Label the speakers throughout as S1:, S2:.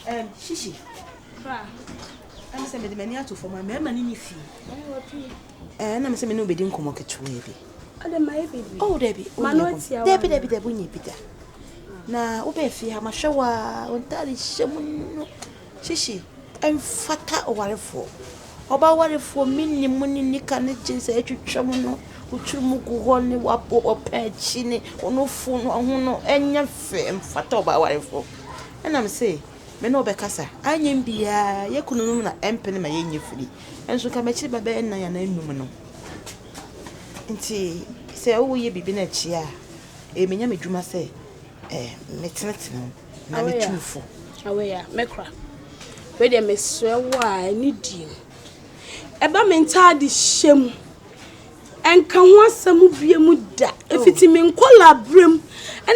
S1: Ɛm hyehye kra ɛm sɛ mede m'ani ato fam a mɛɛma ne ne fie. Ɛɛ na mesɛ me ne obedi nkɔmɔ ketewaa bi. Ɔde ma yɛ bebree. Oh dabi. Ma no tia wa. Dabi dabi dabi onye bi da. Na wobɛ fie ha mahwɛ wa ontare hyɛ mu no hyehye ɛmfata ɔwarefoɔ. Ɔba warefoɔ minni mu ne nika ne jeans a ɛtwitwa mu no wotiri mu gu hɔ ne wapɔ ɔpɛ akyi ne ɔno fo no ho no ɛnyɛ fɛ ɛmfata ɔba warefoɔ. Ɛna me se, Me ne wo bɛkasa. Anyɛ me biaa, yɛ kununom na ɛmpene ma yɛnyɛ firi. Nso nka m'akyiri ba bɛyɛ nnan anaa nnum no. Nti sɛ wo yɛ biribi na ɛkye a, ɛyɛ me Nyame dwuma sɛ eh, me tenetene wo na me tu wo fo. Awei a, me kora.
S2: Wei deɛ me srɛ wo a, ɛne die mu. Ɛba me ntaade hyɛ mu. Ɛnka ho asɛm biom da. Ɛfiti me nkɔlaa berɛm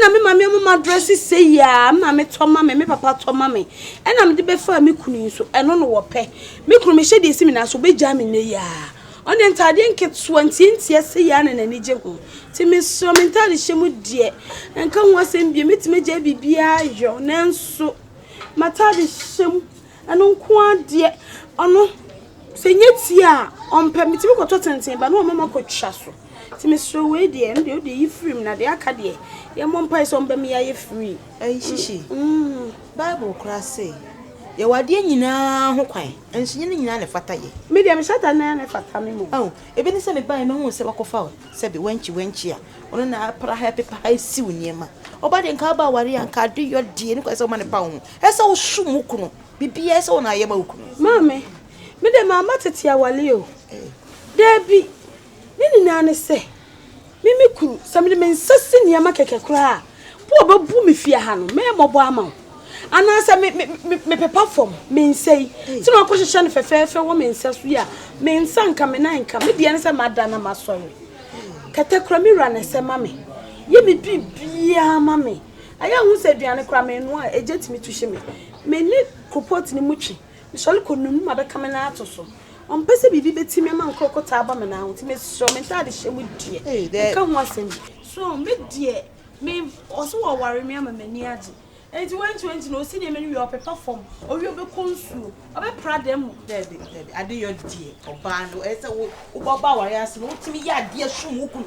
S2: na me maame ama m'adrɛse sei a me maame tɔ ma me, me papa tɔ ma me na mede bɛfaa me kunu yi so. Ɛno na ɔpɛ. Me kunu mehyɛ deɛ ɛsi me nan so ɔbɛgyaa me nnɛ yi ara. Ɔno deɛ ntaadeɛ nketewa ntiantia sei ara na n'ani gye ho. Nti mesrɛ wo me ntaade hyɛ mu deɛ ɛnka ho asɛm biom mɛtumi agyae biribiara yɔ nanso m'ataade hyɛ mu. Ɛno nko ara deɛ ɔno sɛ ɛnyɛ tie a ɔmpɛ. Metumi kɔtɔ tenten ba na wama makɔtwa so. Nti mesrɛ wei deɛ ɛno deɛ wode yi firi mu na deɛ aka deɛ yɛmmɔ mpaeɛ sɛ ɔmma me yɛayɛ free. Ɛyi hyehye.
S1: Bible koraa se yɛwɔ adeɛ nyinaa ho kwan nso nyɛ ne nyinaa na ɛfata yɛ. Me deɛ mehyɛ atade na ɛyɛ
S2: na ɛfata me mmom. Ao, ebi ne sɛ
S1: mebaeɛ mehuu sɛ woakɔfa sɛbe wankyi wankyi a ɔno na apra ha ɛpepa ha asiw nneɛma. Ɔba deɛ nka aba aware a nka adeyɔ deɛ ne kwan sɛ woma no pa wo ho. Ɛsɛ wo som wo kunu. Biribiara ɛsɛ wo na ayɛ ma wo kunu. Maame, me de mamma tete awale o. Daabi, ne nyinaa ne sɛ, me me kunu, sɛ mede me nsa si nneɛma kɛkɛ koraa a, po a ɔbɛbu me fie ha no, mɛmmɔbɔ ama wo. Anaa sɛ me, me, me, mepepa fam, me nsa yi, sɛ na ɔkɔhyehyɛ no fɛfɛɛfɛ wɔ me nsa so yi a, me nsa nka, me nan nka. Me deɛ ne sɛ mada na masɔre. Kɛtɛ kora me wura na ɛsɛ ma me. Yɛ me biribiara ma me. Ɛyɛ a wohu sɛ aduane koraa menoa a, egya tumi tu hye me. Me ne koropɔɔto no mu twe. Mesɔre kɔ nunu mu a, bɛka me nan ato so. Ɔmpɛ sɛ biribi bɛti me ama nkorɔkotaa aba me nan ho, nti mesrɛ wo, me ntaade hyɛ mu deɛ, nka ho asɛm bi. So me deɛ, me, ɔse wɔware me ama m'ani agye. Enti wɛnti wɛnti na ɔsi nneɛma no wie a, ɔpepa fam, ɔwie a ɔbɛkɔ nsuo, ɔbɛpra dan mu. Daabi, daabi, Adeyɔ deɛ, ɔbaa no, ɛyɛ sɛ wo, wobɔ ɔbaa awareɛ ase no, wotumi yɛ adeɛ som wo kunu.